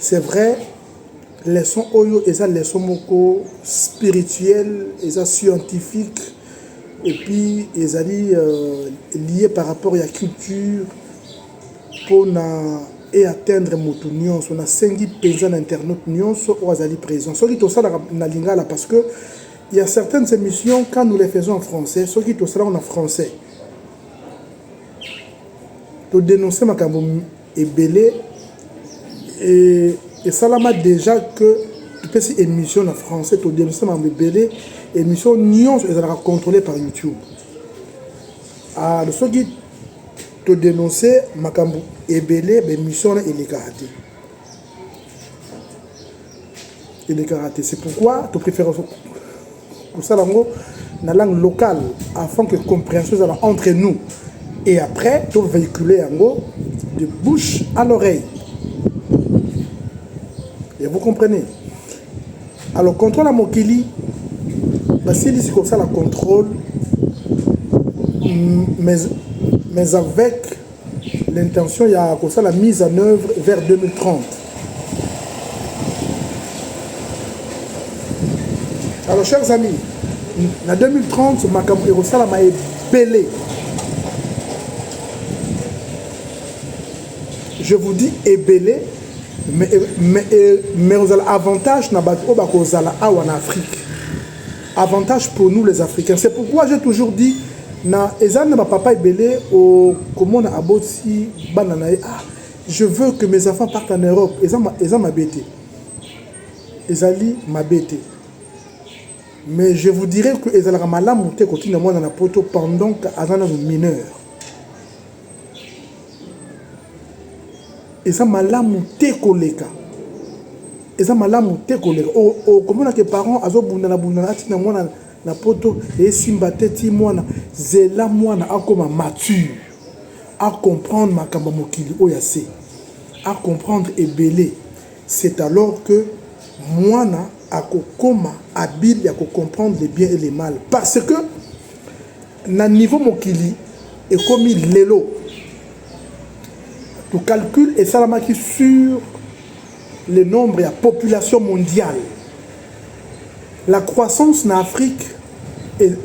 C'est vrai leçon oyo eza leçon moko spirituel eza scientifique et puis ezali euh, lié par rapport ya culture pona et atteindre moto nyonso nasengi mpenza na internaute nyonso oyo azali présent soki tosalaka na lingala parce que il y a certaines émissions quand nous les faisons en français soki tosalaka na français todénonce makambo ebele et esalama dejà que topesi émission na français todemisa makambo ebele émission nyonso ezalaka contrôlé par youtube ah, soki todénonce makambo ebele baémission wana elekaka te elekaka te c'est pourquoi to préfère kosala yango na langue locale afin que compréhension ezala entre nous et après to véhiculer yango de bouche à l'oreille et vous comprenez alors contrôle ya mokili basilisi kosala contrôle mais, mais avec L'intention ya kosala mise en œuvre vers 2030. Alors chers amis, na 2030 makambo ekosalama ebele. Je vous dis ebele mais mais mais ozala avantage na bato oyo bakozala awa na Afrique. avantage pour nous les africains c'est pourquoi j'ai toujours dit na eza na bapapa ebele okomona aboti bana na ye ah je veux que mes enfants partent en europe eza, eza mabe te ezali mabe te mais je vous dirais que ezalaka malamu te kotinda mwana na poto pendant aza nano mineur eza malamu te koleka eza malamu te koleka okomona ke parent azobundana bundana atina mwana na poto esimba te ti mwana zela mwana akoma mature acomprendre makambo ya mokili oyo ase acomprendre ebele c'est alors que mwana akokoma habile ya kocomprendre le bien et le mal parce que Na niveau mokili ekomi lelo, to calcul esalamaki sur le nombre ya population mondiale. La croissance na Afrique est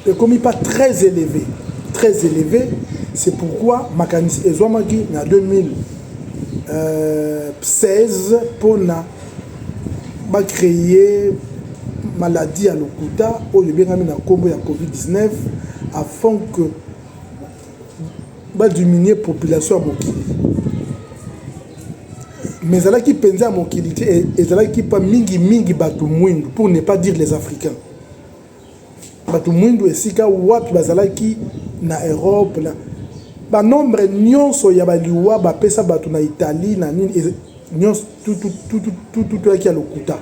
ekomi pas très élevée, très élevée. C'est pourquoi makanisi ezwamaki na 2016 euh, mpo na ba cree maladie ya lokuta oyo ebengami na nkombo ya covid-19 afin que ba diminuer population ya mokili mais ezalaki mpenza ya mokili te ezalaki mpa mingimingi bato mwindu pour ne pas dire les africains bato mwindu esika wapi bazalaki na Europe na banombre nyonso ya baliwa bapesa bato na Italie na nini nyonso tutututututuaki ya lokuta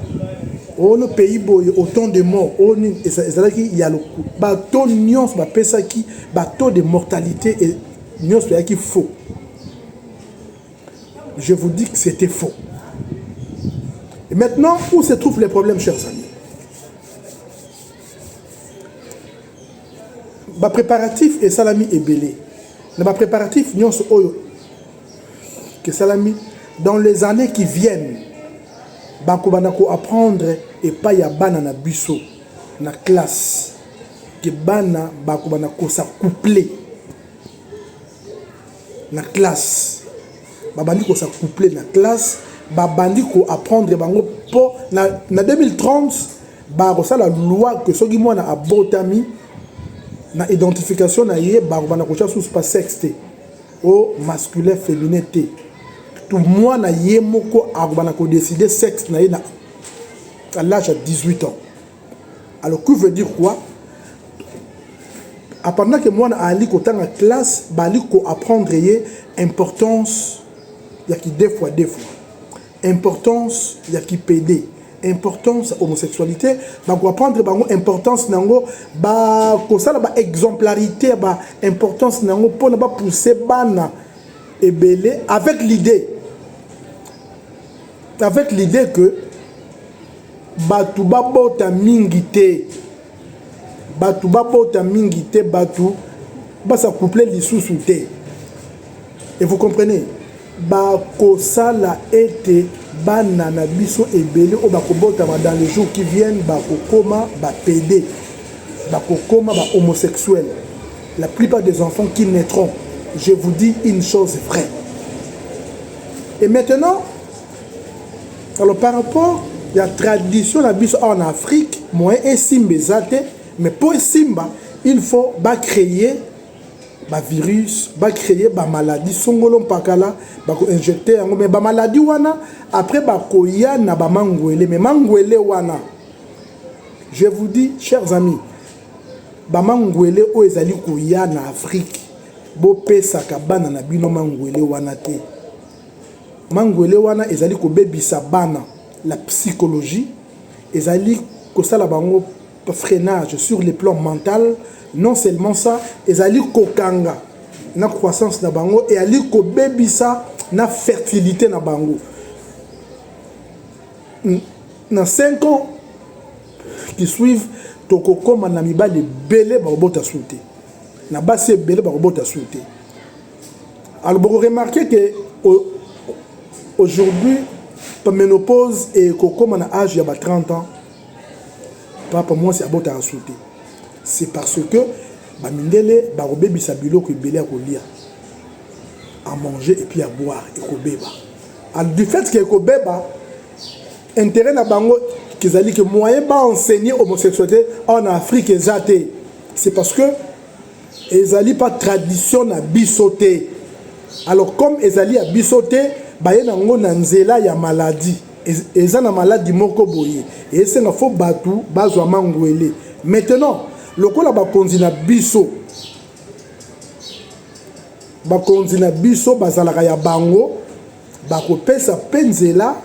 ono pays boye autant de mort oyo nini ezalaki ya lokuta bato nyonso bapesaki bato de mortalité e, nyonso eyaki faux je vous dis que c'était faux et maintenant où se trouve les problèmes chers amis ba préparatifs esalami ebele na ba préparatifs nyonso oyo esalami dans les années qui viennent bakobanda ko apprendre epai ya bana na biso na classe ke bana bakobanda kosa couple na classe babandi kosa couple na classe babandi ko apprendre bango mpo na, na 2030 bakosala loi ke soki mwana abotami na identification na ye bakobanda kotya susu pa sexe te o masculin féminin te to mwana ye moko akobanda kodeside sexe na ye na à l'âge ya 18 ans Alors, que veut dire quoi Pendant que moi, Ali Kotanga classe, Bali ko apprendre ye importance ya ki deux fois deux fois. Importance ya ki PD. Importance homosexualité, ba ko apprendre bango importance nango, ba ko sala ba exemplarité ba importance nango pona ba pousser bana ebele avec l'idée avec l'idée que Bato babota mingi te, bato babota mingi te, bato basa couple lisusu te et vous comprenez, bakosala ete bana na biso ebele oyo bakobotama dans les jours qui viennent bakokoma bapede, bakokoma bahomosexuel. La plupart des enfants qui naîtront, je vous dis une chose vraie. Et maintenant, Alors par rapport ya tradition na biso awa na Afrique moyen esimba eza te mais mpo esimba il faut ba créer ba virus ba créer ba maladie songolo mpakala bako injecter yango mais ba maladie wana après bakoya na ba mangwele mais mangwele wana je vous dis chers amis ba mangwele oyo ezali koya na Afrique bopesaka bana na bino mangwele wana te Mangwele wana ezali kobebisa bana la psychologie, ezali kosala bango freinage sur le plan mental, non seulement ça, ezali kokanga na croissance na bango, ezali kobebisa na fertilite na bango. Na 5 ans qui suivent, tokokoma na mibali ebele bakobota suki te, na basi ebele bakobota suki te. Alors, vous remarquez que aujourd'hui, la ménopause est comme à l'âge de 30 ans. Papa, moi, c'est à bout à sauter. C'est parce que bamindele bakobebisa biloko ebele ya kolia à manger et puis à boire ekobeba alors du fait que ekobeba intérêt na bango kezali que moyen baenseigne homosexualité en afrique eza te c'est parce que ezali pa tradition na biso te alors comme ezali ya biso te baye na yango na nzela ya maladie eza na maladi moko boye esenga fo bato bazwa mangwele maintenant lokola bakonzi na biso bakonzi na biso bazalaka ya bango bakopesa mpe nzela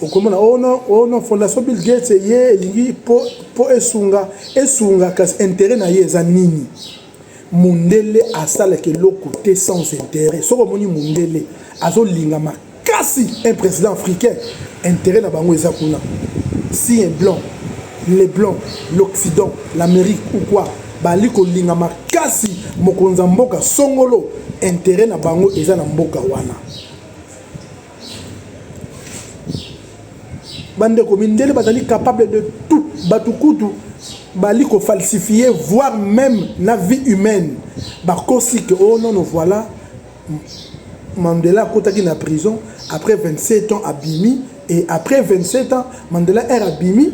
okomona ono oh ono oh fondation bill gates ye elingi po po esunga esunga kasi intérêt na ye eza nini mundele asalaka eloko te sans intérêt soki omoni mundele azolinga makasi un président africain intérêt na bango eza kuna si un blanc les blancs l'occident l'amérique ou quoi Bali kolinga makasi mokonzi ya mboka songolo interet na bango eza na mboka wana bandeko mindele bazali capable de tout bato kutu bali kofalsifie voire même na vie humaine bakosi ke o oh nono voilà mandela akotaki na prison après 27 ans abimi et après 27 ans mandela aire abimi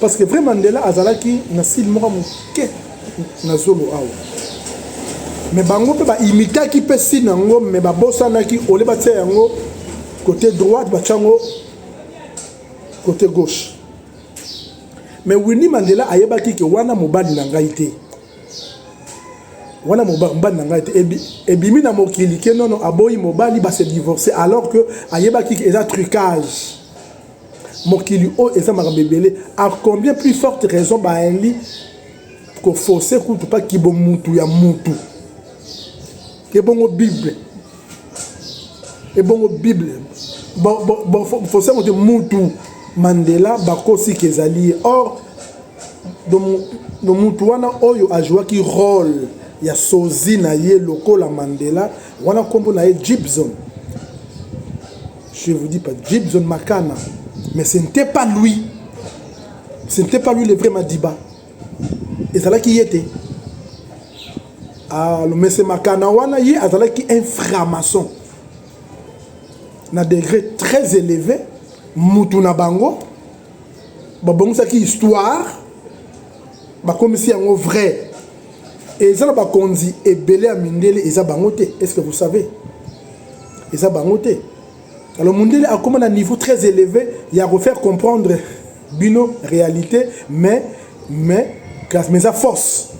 parce que vrai mandela azalaki na sile moko moke na zolo awa me bango mpe baimitaki mpe sile yango me babosanaki ole batia yango côté droite batya yango côté gauche me winnie mandela ayebaki ke wana mobali na ngai te wana mobali na ngai te ebimi na mokili ke nono aboyi mobali base divorce alors que ayebaki eza trucage mokili oyo eza makambo ebele a combien plus forte raison baali koforce kutu mpa kibomutu ya mutu ebongo bible ebongo bible force yango te mutu mandela bakosiki ezali ye or no mutu wana oyo ajouaki role ya sozi na ye lokola mandela wana nkombo na ye gibson Je vous dis pas, Gibson Makana, mais ce n'était pas lui. Ce n'était pas lui le vrai Madiba. Et ça là qui était. Ah, le monsieur Makana, wana, il azalaki un franc-maçon. Na degré très élevé, mutu na bango, babongisaki histoire, bakomisi yango vrai. Et ça, bakonzi ebele ya mindele eza bango te. Est-ce que vous savez? eza bango te alors mundele akoma na niveau très élevé ya refaire comprendre bino réalité mais mais classe mais eza force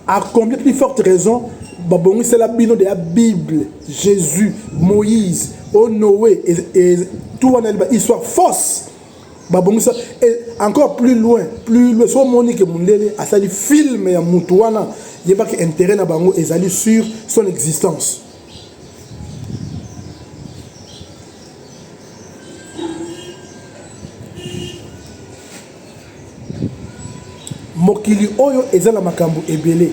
à combien plus forte raison babongisela bino de la bible jésus moïse o oh noé et, et tout wana histoire force babongisa et encore plus loin plus loin so moni ke mundele asali film ya mutu wana yebaki intérêt na bango ezali sur son existence mokili oyo eza na makambo ebele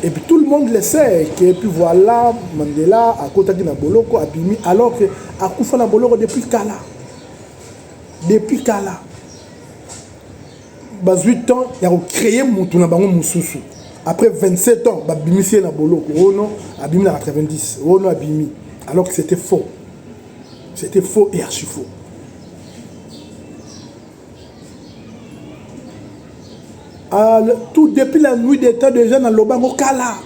et puis tout le monde le sait que puis voilà Mandela akotaki na boloko abimi alors que akufa na boloko depuis kala depuis kala bazwi temps ya kocreye motu na bango mosusu après 27 ans babimisi ye na boloko oyo oh no abimi na 90 oyo oh no abimi alors que c'était faux c'était faux et archi faux Ah, tout depuis la nuit des temps déjà na loba ngo kala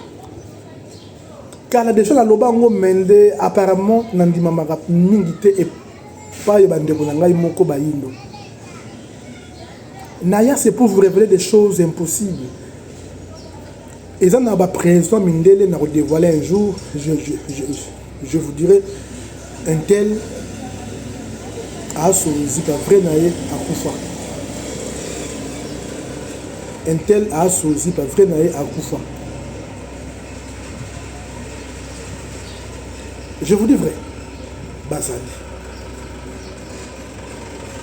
kala déjà na loba ngo mende apparemment na ndima maka mingi te et pas yo bande ko na ngai moko ba yindo naya c'est pour vous révéler des choses impossibles eza na ba president mindele na ko dévoiler un jour je, je, je, je vous dirai un tel aso musique vrai na ye akufa un tel aso zipa vrai na ye akufa je vous dis vrai bazali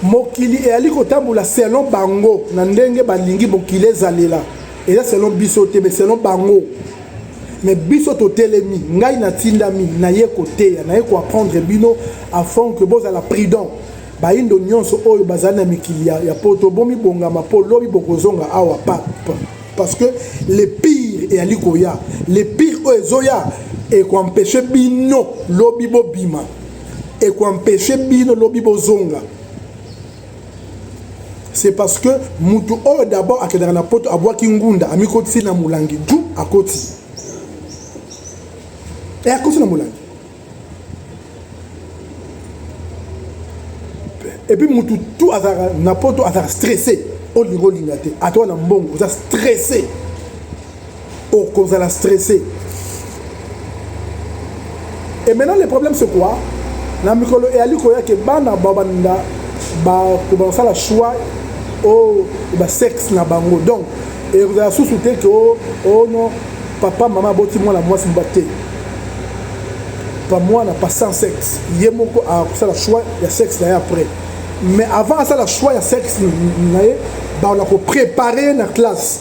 mokili eyali kotambola selon bango na ndenge balingi mokili ezalela eza selon biso te me selon bango me biso totelemi ngai natindami naye koteya naye koapprendre bino afin ke bozala prudent bayindo nyonso oyo bazali na mikili ya poto bomibongama mpo lobi bokozonga awa pape parce que le pire eyali koya le pire oyo ezoya ekoempeshe bino lobi bobima ekoampeche bino lobi bozonga c'est parce que mutu oyo d'abord akendaka na poto abwaki ngunda amikotisi na molangi du akoti e eh, akoti na molangi epuis mutu tu azalaka na poto azalaka stresse olinga olinga te ata wana mbongo oza stresse okozala stresse et maintenant le problème c'est quoi na mikolo eyali koya ke bana babanda bakobanda kosala choix o oh, basexe na bango donc ekozala susu te ke o oh, oh non papa mama aboti mwana mwasi mba te pa mwana pa sans sexe ye moko akosala choix ya sexe na ye après mais avant asala choix ya sexe na ye bakola koprépare ye na classe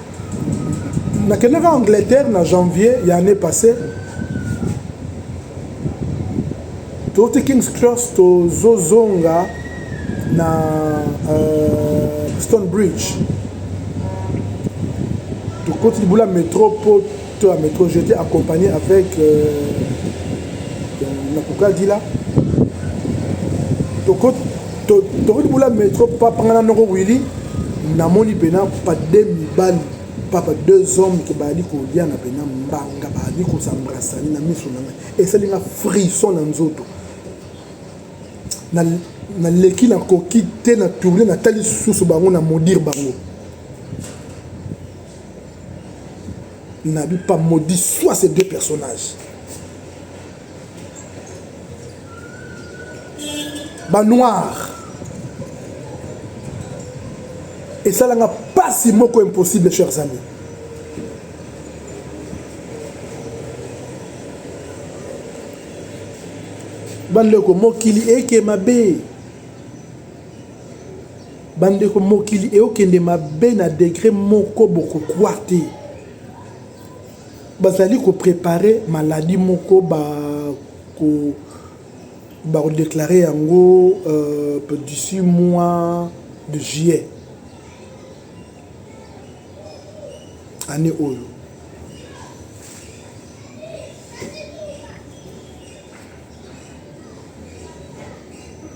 nakendaka angleterre na janvier ya année passé touti kings cross tozozonga na euh, stone bridge tokoti libula metro mpo to ya metro j'étais accompagné avec euh, nakokadila tokoti to, to, bula metro papa nga na noko wili namoni mpena pa de mibali papa deux hommes ke bazali koliana mpena mbanga bazali kosambrasani na miso na ngai esali nga frison na nzoto naleki na nakoki te na tourne natali lisusu bango na modire bango Nabi pas maudit soit ces deux personnages. Ba noir. Et ça n'a pas si moko impossible chers amis. bandeko mokili eke mabe Bandeko mokili eokende mabe na degre moko bokokwa te. Bazali ko prepare maladi moko ba ko ba ko declare yango d'ici mois de juillet annee oyo.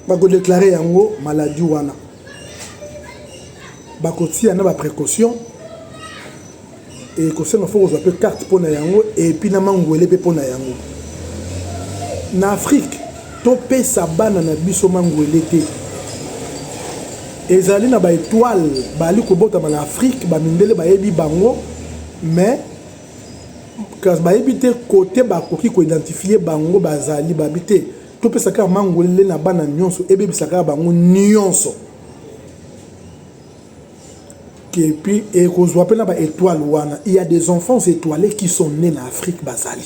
bakodeklare yango maladi wana bakotia na baprécaution ekosenga fo kozwa mpe karte mpo na yango epuis na mangwele mpe mpo na yango na afrike topesa bana na biso mangwele te ezali na baetoile bali kobotama na afrike bamindele bayebi bango mais kasi bayebi te kote bakoki ko identifier bango bazali babi te topesa kaka mangolele na bana nyonso ebebisa kaka bango nyonso epuis ekozwa mpe na ba étoile wana il y a des enfants étoilés qui sont nés na afrique bazali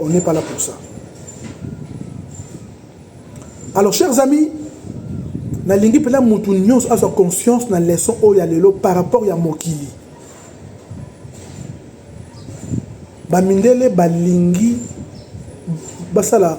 On n'est pas là pour ça. Alors, chers amis, nalingi mpela motu nyonso azwa conscience na leçon oyo ya lelo par rapport ya mokili bamindele balingi basala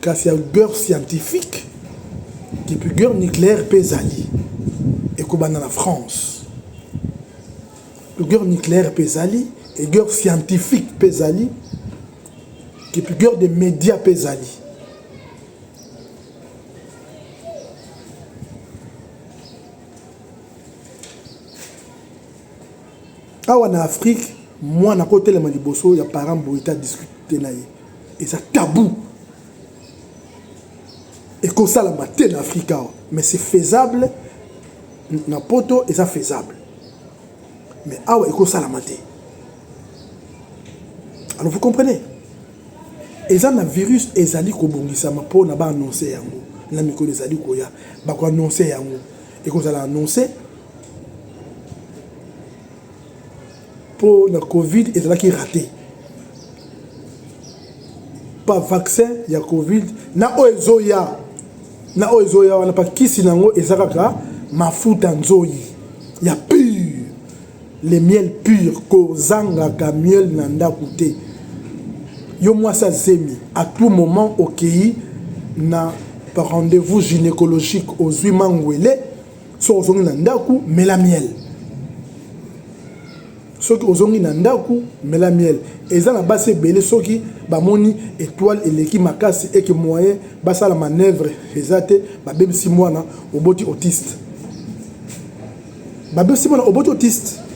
kasi ya guerre scientifique epuis guerre nucléaire mpe ezali ekobanda na france guerre nucléaire mpe ezali e guerre scientifique mpe ezali epuis guerre de média mpe ezali awa na afrique mwana akotelema liboso ya parent boye te adiscute na ye eza tabou ekosalama te na afrika awa mais c'est faisable na poto eza faisable mais awa ekosalama te alors vous comprenez eza na virus ezali kobongisama mpo na baannonce yango na mikolo ezali koya bakoannonce yango ekozala annonce po na covid ezalaki rate pa vaccin ya covid na oyo ezoya na oyo ezoya wana pa kisi na yango eza kaka mafuta nzoyi ya pure le miel pure kozangaka miel na ndako te yo mwasi azemi à tout moment okei na rendez-vous gynécologique ozwi mangwele soki ozongi na ndako mela miel soki ozongi na ndako mela miel eza na basi ebele soki bamoni etoile eleki makasi eke moyen basala manœuvre eza te babebisi mwana oboti autiste babebisi mwana oboti autiste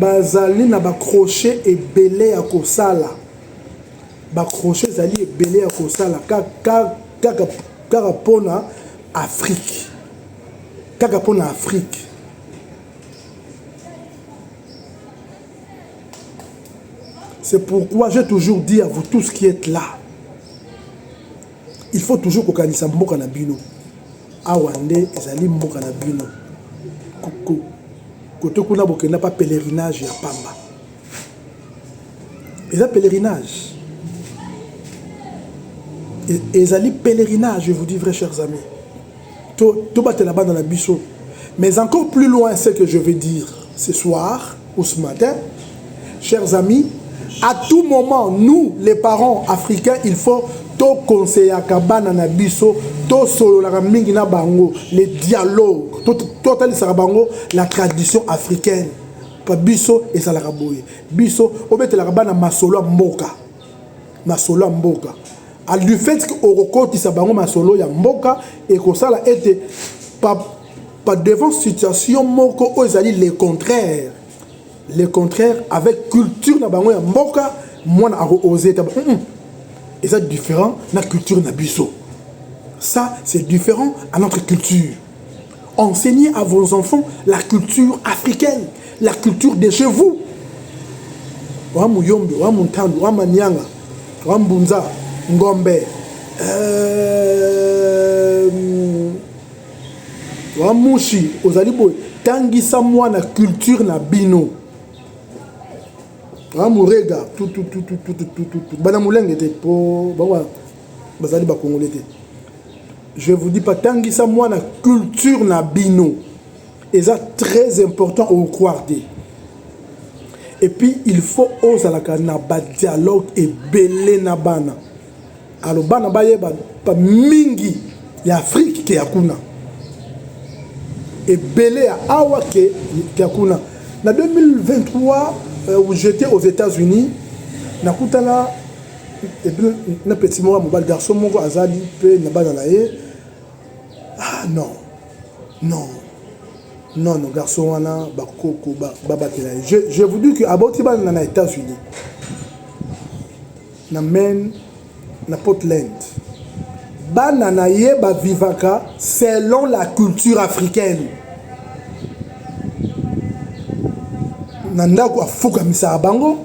Bazali na ba crochets ebele ya kosala, ba crochets ezali ebele ya kosala kaka pona Afrique, kaka pona Afrique. C'est pourquoi j'ai toujours dit à vous tous qui etes là! Il faut toujours kokanisa mboka na bino. Awa nde ezali mboka na bino. Kote kuna bokenda pa pèlerinage ya pamba. Eza pèlerinage. Ezali pèlerinage, je vous dis vrai chers amis. To to batela bana na biso. Mais encore plus loin ce que je vais dire ce soir, ou ce matin, chers amis, à tout moment, nous, les parents africains, il faut tout conseiller à Kabana Nabiso, tout solo la mingi na bango, les dialogues, tout total bango, la tradition africaine. Pas biso et ça la raboye. Biso, au bête la rabana masolo mboka. Masolo mboka. À du fait que au recote, ça bango masolo ya mboka et qu'on ça la été, Par devant situation moko oyo ezali le contraire le contraire avec culture na bango ya mboka mwana ako oser taba mm -mm. eza différent na culture na biso ça c'est différent à notre culture enseignez à vos enfants la culture africaine la culture de chez vous wa muyombe wa muntandu wa manianga wa mbunza ngombe euh... Wa mushi ozali boye tangisa mwana culture na bino amurega ah, tutututututututu bana molenge te mpo bango bazali bakongole te je vous dis patangisa mwana culture na bino eza très important ocroire te epuis il faut ozalaka na badialogue ebele na bana Alors bana bayeba ba mingi ya Afrique ke ya kuna ebele ya awa ke ya kuna na 2023 euh, j'étais aux États-Unis nakutana na petit moko ya mobali garçon moko azali mpe na bana na ye ah non non non non garçon wana bakoko babatela ba ye je, je vous dis que aboti bana na états-unis Na Maine, na Portland, bana na ye ba vivaka selon la culture africaine. Na ndako afukamisaka bango,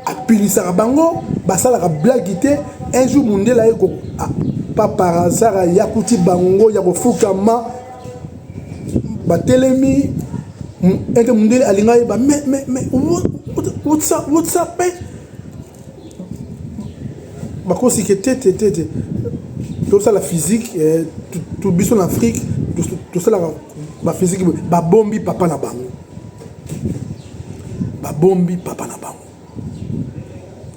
apilisaka bango, basalaka blague te. Un jour mundela ye ko ah, pa par hasard ayakuti bango ya kofukama batelemi ete mundele alingaki ba mais mais mais what's up what's up eh? bakosi ke tete tete tosala physique eh, biso na afrique tosalaka baphysique babombi papa na bango babombi papa na bango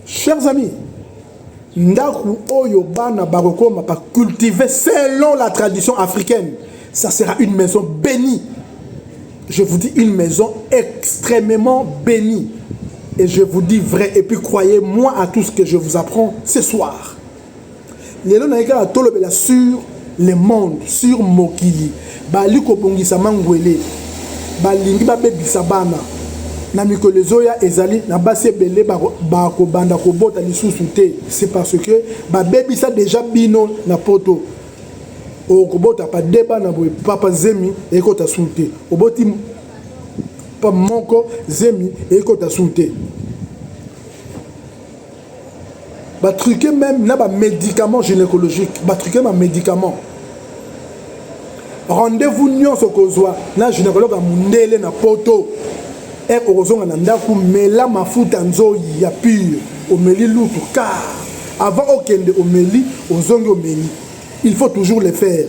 chers amis ndako oyo bana bakokoma bacultive selon la tradition africaine ça sera une maison bénie Je vous dis une maison extrêmement bénie. Et je vous dis vrai, et puis croyez-moi à tout ce que je vous apprends ce soir. lelo nayei kaka tolobela sur le monde sur mokili bali kobongisa mangwele balingi babebisa bana na mikolo ezoya ezali na basi ebele bakobanda kobota lisusu te c'est parce que babebisa déjà bino na poto okobota pa de bana boye papa zemi ekota su te oboti pa moko zemi ekota su te batruke même na bamédicament gynécologique batruke bamédicament rendez-vous nyonso kozwa na gynécologue ya mondele na poto Heure okozonga na ndaku mela mafuta nzoyi ya pure omeli lutu car avant okende omeli ozongi omeli il faut toujours le faire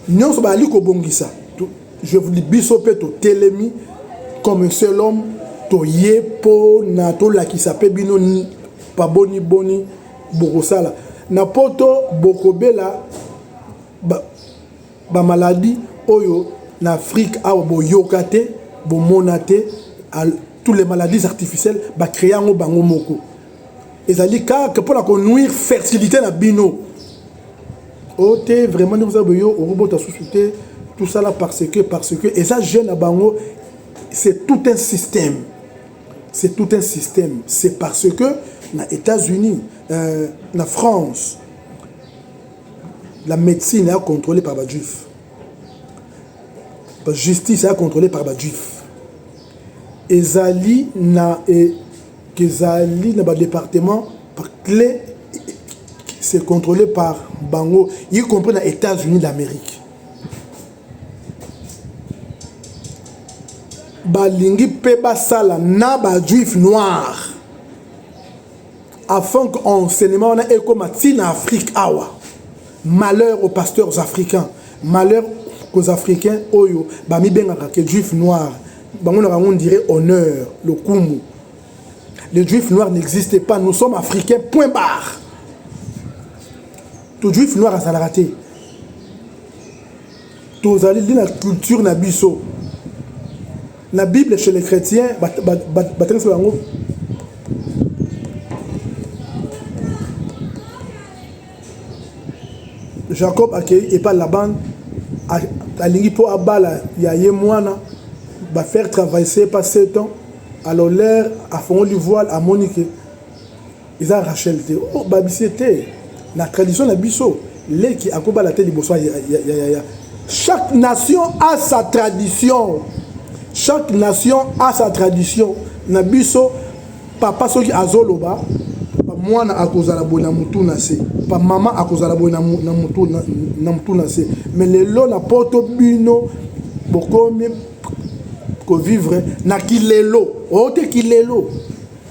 nionso bazali kobongisa je vous dis biso mpe totelemi comme un seul homme toye mpo na tolakisa mpe bino paboni boni bokosala na poto bokobela ba, Ba maladie oyo na afrique awa bo yoka te bo mona te tout les maladies artificielle ba crea yango bango moko ezali kaka pona ko nuire fertilite na bino o te vraiment nde boza boyo okobota susu te tout ça là parce que parce que eza jeune na bango c'est tout un système c'est tout un système c'est parce que na états-unis euh, na france La medecine est contrôlée par ba juifs. La justice est contrôlée par ba juifs. Ezali na e, ezali na ba départements par clé c'est contrôlé par bango y compris na États-Unis d'Amérique. Balingi pe basala na ba juifs noirs. Afin que enseignement wana ekoma ti na Afrique awa. Malheur aux pasteurs africains. Malheur aux africains oyo ba mi bengaka que juif noir. Bango na bango dirait honneur, lokumu. Les juifs noirs n'existent pas, nous sommes africains point barre. To juif noir azalaka te. Tozali nde na culture na biso. Na Bible chez les chrétiens batangisa bango Jacob akei epa Laban alingi mpo abala ya ye mwana ba faire travailler pas 7 ans alors l'air afongoli voile amoni ke Eza Rachel te oh babise te na tradition na biso leki akobala te liboso ya, ya, ya, ya. chaque nation a sa tradition chaque nation a sa tradition na biso papa soki azoloba mwana akozala boye na motu na se pa mama akozala boye na motu na se mais lelo na poto bino bokomi kovivre na kilelo oyo te kilelo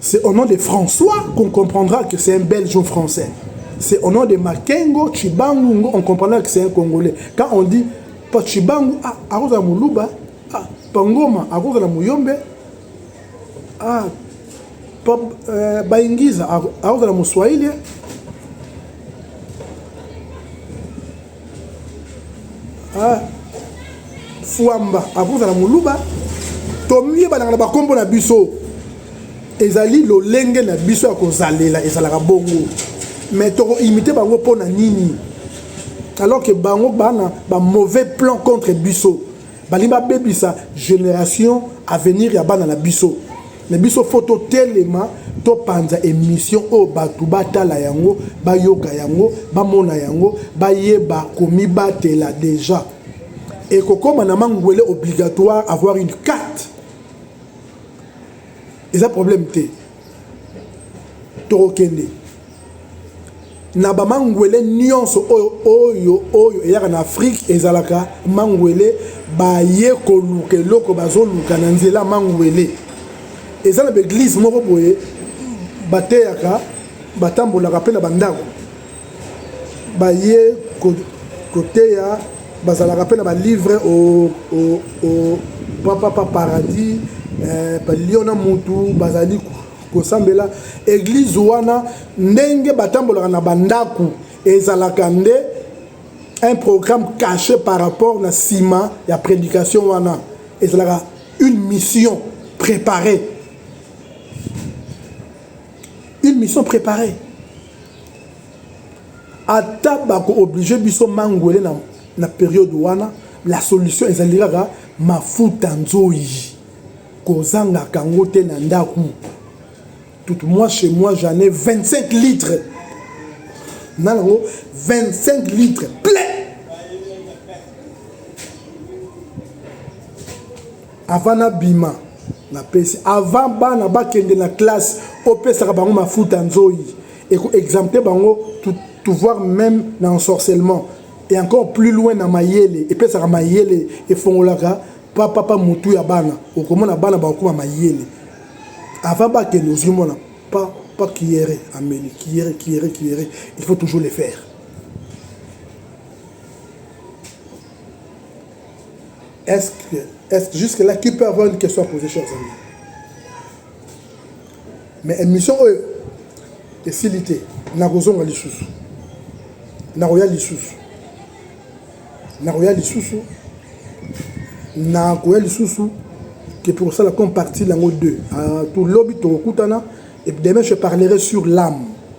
C'est au nom de François qu'on comprendra que c'est un Belge ou Français. C'est au nom de Makengo, Chibangu, on comprendra que c'est un Congolais. Quand on dit pa Chibangu, ah, akoza Muluba, ah, pa Ngoma, akoza la Muyombe, ah, pa euh, Baingiza, akoza la Muswahili, ah, fuamba akozala moluba tomiyebanaka na bakombo na biso ezali lolenge na biso ya kozalela ezalaka bongo mais tokoimite bango mpo na nini alors que bango bana ba mauvais plan contre biso Balingi babebisa generation avenir ya bana na biso. Mais biso faut totelema topanza emission oyo bato batala yango bayoka yango bamona yango bayeba komibatela deja ekokoma na mangwele obligatoire avoir une carte eza problème te tokokende na bamangwele nyonso oyo oyo oyo eyaka na afrike ezalaka mangwele baye koluka eloko bazoluka na nzela mangwele eza na baeglize moko boye bateyaka batambolaka mpe na bandako baye koteya bazalaka mpe na balivre papa pa paradis eh, palio na mutu bazali kosambela eglize wana ndenge batambolaka na bandako ezalaka nde un programme caché par rapport na nsima ya prédication wana ezalaka une mission préparée une mission préparée ata bako oblige biso mangwele na, na periode wana la solution ezali kaka mafuta nzoyi kozangaka yango te na ndako tout moi chez moi j'en ai 25 litres na nango 25 litres plein Avant na bima na pesi avant bana bakende na classe opesaka bango mafuta nzoyi et ko exempter bango tout to voir même na ensorcellement et encore plus loin na mayele epesaka mayele efongolaka pa papa mutu ya bana okomona bana bakokoma mayele avant bakende ozwi mwana pa pa kiere ameli kiere kiere kiere il faut toujours le faire Est-ce que, est-ce que jusque là, qui peut avoir une question à poser, chers amis? Mais émission oyo esili te, nakozonga lisusu, nakoya lisusu, nakoya lisusu, nakoya lisusu que pour ça, la comme partie, l'ango 2. Euh, tout lobby, tout et demain, je parlerai sur l'âme.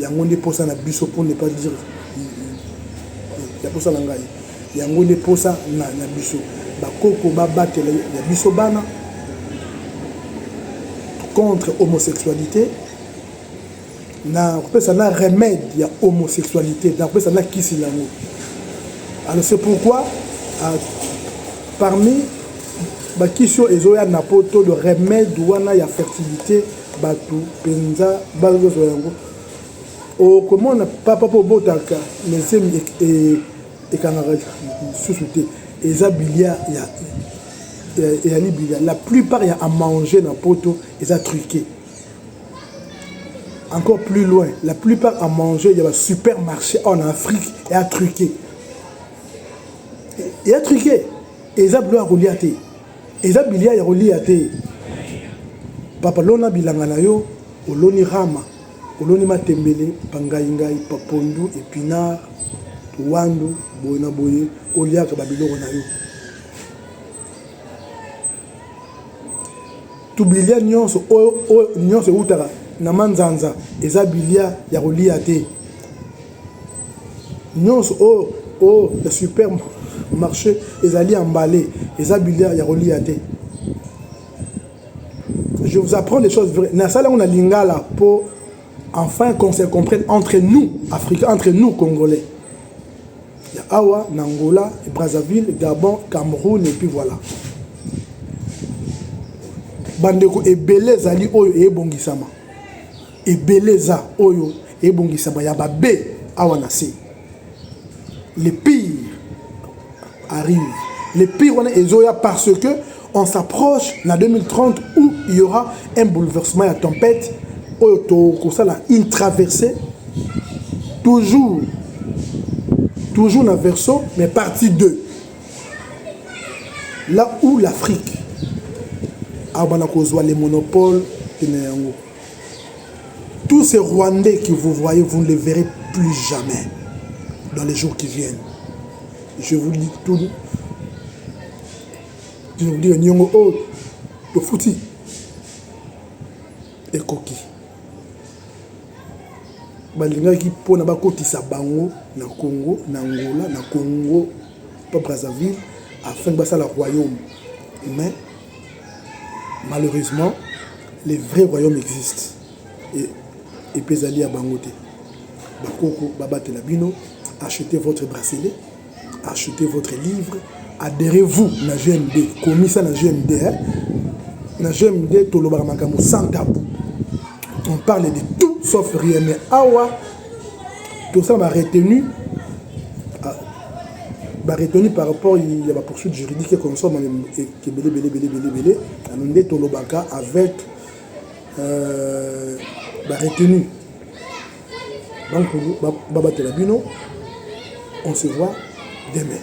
Yango nde posa na biso pour ne pas dire ya posa na ngai. Yango nde posa na, na biso. Bakoko babatela ya biso bana contre homosexualité na kopesa na remède ya homosexualité na kopesa na kisi yango alors c'est pourquoi euh, parmi bakisi oyo ezoya na poto le remède wana ya fertilité Batu penza bazo zwa yango okomona papa po obotaka na zemi ekangaka lisusu te eza bilia ya eyali bilia la plupart ya amanger na poto eza truqué encore plus loin la plupart à manger ya basupermarché en afrique ya truqué ya truqué eza bilo ya kolia te Eza bilia ya kolia te. Papa lona bilanga na yo, oloni rama, oloni matembele, pangai ngai, papondu, epinard, wandu, boye na boye, oliaka ba biloko na yo. To bilia nyonso oyo nyonso eutaka na manzanza eza bilia ya kolia te. nyonso oyo oyo ya super marché ezali emballé eza bilia ya kolia te je vous apprends des choses vraies nasala yango na lingala mpo enfin qu'on se comprenne entre nous africains entre nous congolais ya awa na angola brazzaville gabon cameroun et puis voilà bandeko ebele ezali oyo eyebongisama Ebele eza oyo ebongisama ya ba be awa na se le pire arrive le pire wana ezoya parce que on s'approche na 2030 où il y aura un bouleversement ya tempête oyo tokosala une traversée toujours toujours na verso mais partie 2 là où l'afrique abana kozwa le monopole pene yango Tous ces Rwandais que vous voyez, vous ne les verrez plus jamais dans les jours qui viennent. Je vous dis tout. Je vous dis, Nyongo, oh, le fouti. Et coquille. balingaki mpo na bakotisa bango na congo na angola na congo mpo brazzaville afin basala royaume mais malheureusement le vrai royaume existe epe ezali ya bango te bakoko babatela bino achetez votre bracelet achetez votre livre adhérez vous na gmd komisa na gmd hein? na gmd tolobaka makambo sans tabou on parle de tout sauf rien mais awa tosala ba retenu ah, ba retenu par rapport ya ba poursuite juridique ekonsoma ebele bele bele bele bele ano nde tolobaka avec euh, ba retenu bankulu babatela bino on se voit demain